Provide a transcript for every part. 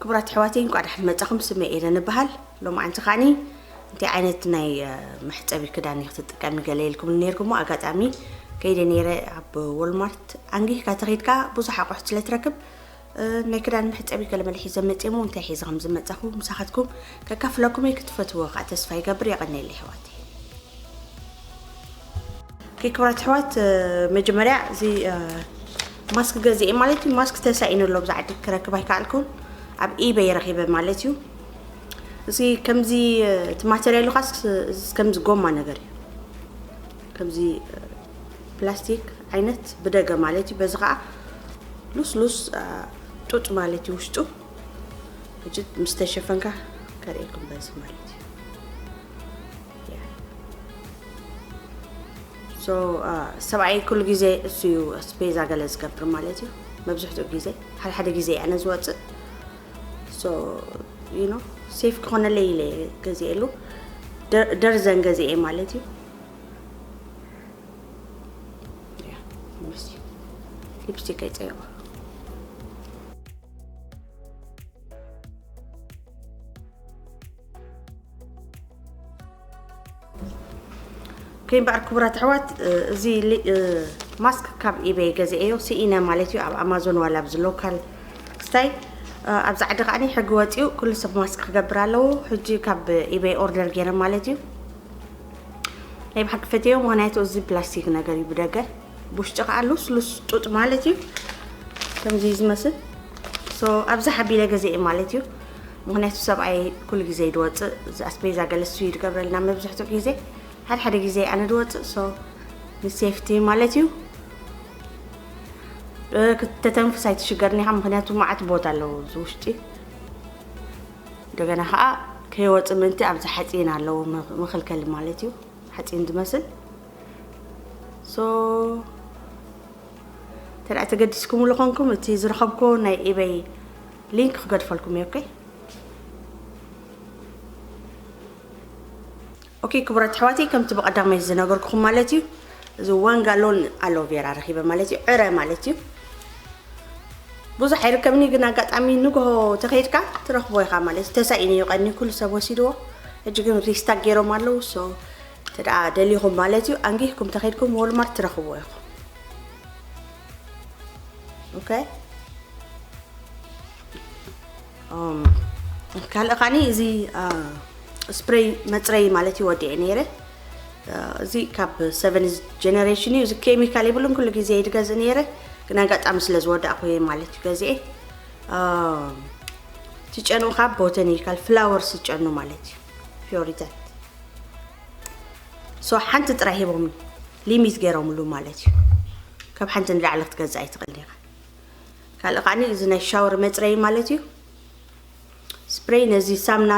ክቡራት ኣሕዋተይ እንኳዕ ደሓን መጻኹም ስመ ኤደን እበሃል ሎማዓንቲ ከዓኒ እንታይ ዓይነት ናይ መሕፀቢ ክዳን እዩ ክትጥቀሚ ገለ ኢልኩም ነርኩሞ ኣጋጣሚ ከይደ ነይረ ኣብ ወልማርት ኣንጊህካ ተኸይድካ ብዙሕ ኣቑሑት ስለ ትረክብ ናይ ክዳን መሕፀቢ ገለ መለ ሒዘ መፅየ ሞ እንታይ ሒዘ ከም ዝመፃኹ ምሳኻትኩም ከካፍለኩም እየ ክትፈትዎ ከዓ ተስፋ ይገብር የቐኒየለ ኣሕዋተይ ክብራት ኣሕዋት መጀመርያ እዚ ማስክ ገዚኤ ማለት እዩ ማስክ ተሳኢኑ ኣሎ ብዛ ዓዲ ክረክብ ኣይከኣልኩን ኣብ ኢበይ ረኺበ ማለት እዩ እዚ ከምዚ እቲ ማተርያሉ ካስ ከምዚ ጎማ ነገር እዩ ከምዚ ፕላስቲክ ዓይነት ብደገ ማለት እዩ በዚ ከዓ ሉስሉስ ጡጥ ማለት እዩ ውሽጡ እጅ ምስ ተሸፈንካ ከርእየኩም በዚ ማለት እዩ ሶ ሰብኣየይ ኩሉ ግዜ እሱ እዩ ኣስፔዛ ገለ ዝገብር ማለት እዩ መብዝሕትኡ ግዜ ሓደ ሓደ ግዜ እየ ኣነ ዝወፅእ ሶ ዩ ኖ ሴፍ ክኾነለይ ኢለ እየ ገዚኤሉ ደ- ደርዘን ገዚኤ ማለት እዩ ያ፣ ምስ ሊፕስቲክ ኣይፀየቑ ከይምበኣር ክቡራት ኣሕዋት እዚ ማስክ ካብ ኢበይ ገዚኤዮ ስኢነ ማለት እዩ ኣብ ኣማዞን ዋላ ኣብዚ ሎካል ስታይ ኣብዚ ዓዲ ከዓኒ ሕጊ ወፂኡ ኩሉ ሰብ ማስክ ክገብር ኣለዎ ሕጂ ካብ ኢበይ ኦርደር ገይረ ማለት እዩ ናይ ብሓቂ ፈትዮ ምክንያቱ እዚ ፕላስቲክ ነገር እዩ ብደገ ብውሽጢ ከዓ ሉስሉስ ጡጥ ማለት እዩ ከምዚ ዝመስል ኣብዚ ሓቢለ ገዚኤ ማለት እዩ ምክንያቱ ሰብኣይ ኩሉ ግዜ ድወፅእ ኣስፔዛ ገለ እሱ እዩ ድገብረልና መብዝሕትኡ ግዜ ሓደ ሓደ ግዜ ኣነ ድወፅእ ሶ ንሴፍቲ ማለት እዩ ተተንፍስ ኣይትሽገርኒ ኢኻ ምክንያቱ መዓት ቦታ ኣለዎ እዚ ውሽጢ እንደገና ከዓ ከይወፅ ምንቲ ኣብዚ ሓፂን ኣለዎ መኸልከሊ ማለት እዩ ሓፂን ዝመስል ሶ ተደኣ ተገዲስኩምሉ ኮንኩም እቲ ዝረኸብኩዎ ናይ ኢበይ ሊንክ ክገድፈልኩም እየ ኦኬ ኦኬ ክቡራት ኣሕዋተይ ከምቲ ብቐዳማይ ዝነገርኩኹም ማለት እዩ እዚ ዋን ጋሎን ኣሎቬራ ረኺበ ማለት እዩ ዕረ ማለት እዩ ብዙሕ ኣይርከብኒ ግን ኣጋጣሚ ንግሆ ተኸይድካ ትረኽቦ ኢኻ ማለት እዩ ተሳኢኒ እዩ ቀኒ ኩሉ ሰብ ወሲድዎ ሕጂ ግን ሪስታክ ገይሮም ኣለዉ ሶ ተደኣ ደሊኹም ማለት እዩ ኣንጊህኩም ተኸይድኩም ወልማርት ትረኽብዎ ኢኹም Okay. Um, ካልእ ካኒ እዚ ስፕሬይ መፅረይ ማለት እዩ ወዲዐ ነይረ እዚ ካብ ሰቨን ጀነሬሽን እዩ እዚ ኬሚካል ይብሉን ኩሉ ግዜ ይድገዝእ ነይረ ግን ኣጋጣሚ ስለ ዝወዳእኩ እየ ማለት እዩ ገዚአ ትጨኑ ካብ ቦተኒካል ፍላወርስ ዝጨኑ ማለት እዩ ፊዮሪታት ሶ ሓንቲ ጥራይ ሂቦም ሊሚት ገይሮምሉ ማለት እዩ ካብ ሓንቲ ንላዕሊ ክትገዝእ ኣይትኽእል ዲኻ ካልእ ከዓ እዚ ናይ ሻወር መፅረይ ማለት እዩ ስፕሬይ ነዚ ሳምና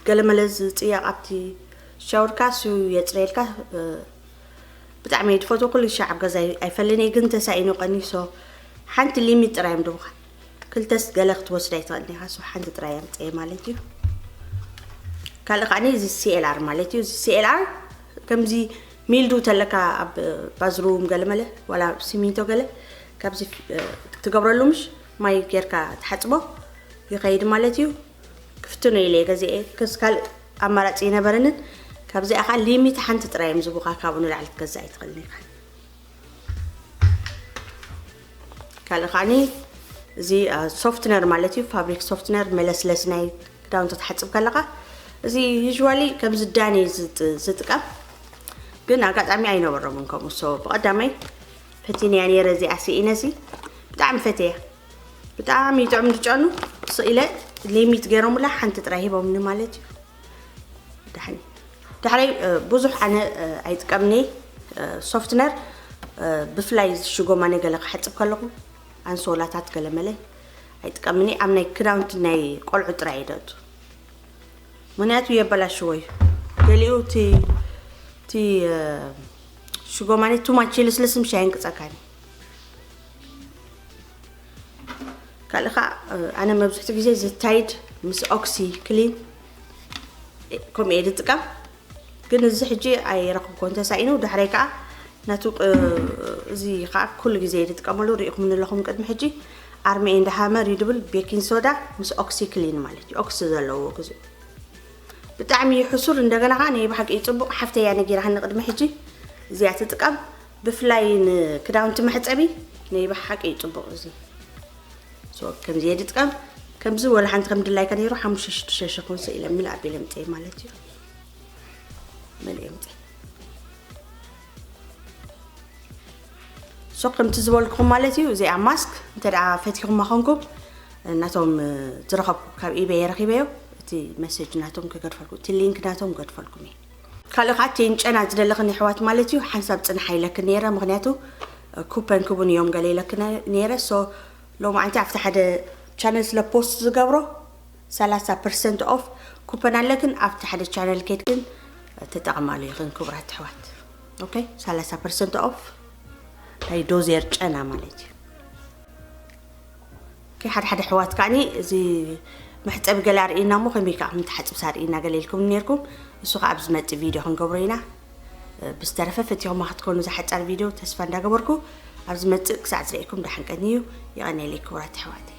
ገለመለ ዝፅየቕ ኣብቲ ሻወርካ ሱ የፅረየልካ ብጣዕሚ እየ ዝፈትዎ ኩሉ ሻዕ ኣብ ገዛ ኣይፈልን እየ ግን ተሳኢኑ ቀኒሶ ሓንቲ ሊሚት ጥራይ እዮም ድቡኻ ክልተስ ገለ ክትወስድ ኣይትኽእልን ኢኻ ሶ ሓንቲ ጥራይ ኣምፀየ ማለት እዩ ካልእ ከዓ እዚ ሲኤልኣር ማለት እዩ እዚ ሲኤልኣር ከምዚ ሚልዱ ተለካ ኣብ ባዝሩም ገለ መለ ዋላ ሲሚንቶ ገለ ካብዚ ትገብረሉ ምሽ ማይ ጌርካ ትሓፅቦ ይኸይድ ማለት እዩ ክፍትኖ ኢለ ገዚአ ክስ ካልእ ኣማራፂ ይነበረንን ካብዚኣ ከዓ ሊሚት ሓንቲ ጥራይ እዮም ዝቡኻ ካብኡ ንላዕሊ ክትገዛእ ኣይትኽእልን ኢኻ ካልእ ከዓኒ እዚ ሶፍትነር ማለት እዩ ፋብሪክ ሶፍትነር መለስለሲ ናይ ክዳውንቲ ትሓፅብ ከለካ እዚ ዩዥዋሊ ከምዚ ዳኒ ዝጥቀም ግን ኣጋጣሚ ኣይነበሮምን ከምኡ ሶ ብቐዳመይ ፈቲንያ ነይረ እዚኣ ስኢነ እዚ ብጣዕሚ ፈትየ ብጣዕሚ ይጥዕም ዝጨኑ ስኢለ ሌሚት ገይሮምላ ሓንቲ ጥራይ ሂቦምኒ ማለት እዩ ድሕሪ ድሕሪ ብዙሕ ኣነ ኣይጥቀምኒ ሶፍትነር ብፍላይ ሽጎማነ ገለ ክሓፅብ ከለኹ ኣንሶላታት ገለ መለ ኣይጥቀምኒ ኣብ ናይ ክዳውንቲ ናይ ቆልዑ ጥራይ ይደቱ ምክንያቱ የበላሽዎ እዩ ገሊኡ እቲ እቲ ሽጎማነ ቱማች ልስልስ ምሽ ኣይንቅፀካኒ ካልእ ከዓ ኣነ መብዝሕቲ ግዜ ዝታይድ ምስ ኦክሲ ክሊን ከምኡ እየ ዝጥቀም ግን እዚ ሕጂ ኣይረኽብኮ እንተሳኢኑ ዳሕረይ ከዓ ናቱ እዚ ከዓ ኩሉ ግዜ እየ ዝጥቀመሉ ሪኢኹም ንለኹም ቅድሚ ሕጂ ኣርሚ ኤንድ ሃመር እዩ ድብል ቤኪን ሶዳ ምስ ኦክሲ ክሊን ማለት እዩ ኦክሲ ዘለዎ ግዙ ብጣዕሚ እዩ ሕሱር እንደገና ከዓ ናይ ብሓቂ እዩ ፅቡቕ ሓፍተያ ነጊራሃኒ ቅድሚ ሕጂ እዚኣ ትጥቀም ብፍላይ ንክዳውንቲ መሕጸቢ ነይ በሓቂ እዩ ጽቡቅ እዚ ሶ ከምዚ እየ ድጥቀም ከምዚ ወላ ሓንቲ ከም ድላይካ ነይሩ ሓሙሽተ ሽዱሽተ ሽሕ ክውን ስኢለ ምል ኣቢለ ምጸይ ማለት እዩ መልእየ ምጸይ ሶ ከምቲ ዝበልኩም ማለት እዩ እዚኣ ማስክ እንተ ደኣ ፈቲኹማ ኮንኩም ናቶም ዝረኸብኩ ካብ ኢበየ ረኺበዮ እቲ መሴጅ ናቶም ክገድፈልኩም እቲ ሊንክ ናቶም ገድፈልኩም እየ ካልእ ከኣ ቴንጨና ዝደለክን የሕዋት ማለት እዩ ሓንሳብ ጽንሓ ኢለክን ነይረ ምክንያቱ ኩፐን ክቡን እዮም ገለ ኢለክን ነይረ ሶ ሎማዓንቲ ኣብቲ ሓደ ቻነል ስለ ፖስት ዝገብሮ ሰላሳ ፐርሰንት ኦፍ ኩፐን ኣለክን ኣብቲ ሓደ ቻነል ኬድክን ተጠቕማሉ ይኽን ክቡራት ኣሕዋት ኦኬ ሰላሳ ፐርሰንት ኦፍ ናይ ዶዜር ጨና ማለት እዩ ሓደ ሓደ ኣሕዋት ከኣኒ እዚ መሕጸቢ ገለ ኣርእዩና እሞ ከመይ ከኣ ከም ትሓጽብስ ኣርእዩና ገለ ኢልኩምኒ ኔርኩም። ንሱ ከኣ ኣብ ዝመጽእ ቪድዮ ክንገብሮ ኢና። ብዝተረፈ ፈቲኹማ ክትኮኑ እዛ ሓጻር ቪድዮ ተስፋ እንዳገበርኩ ኣብ ዝመጽእ ክሳዕ ዝርእየኩም ደሓን ቀንዩ። ይቐንየለይ ክቡራት ኣሕዋተይ።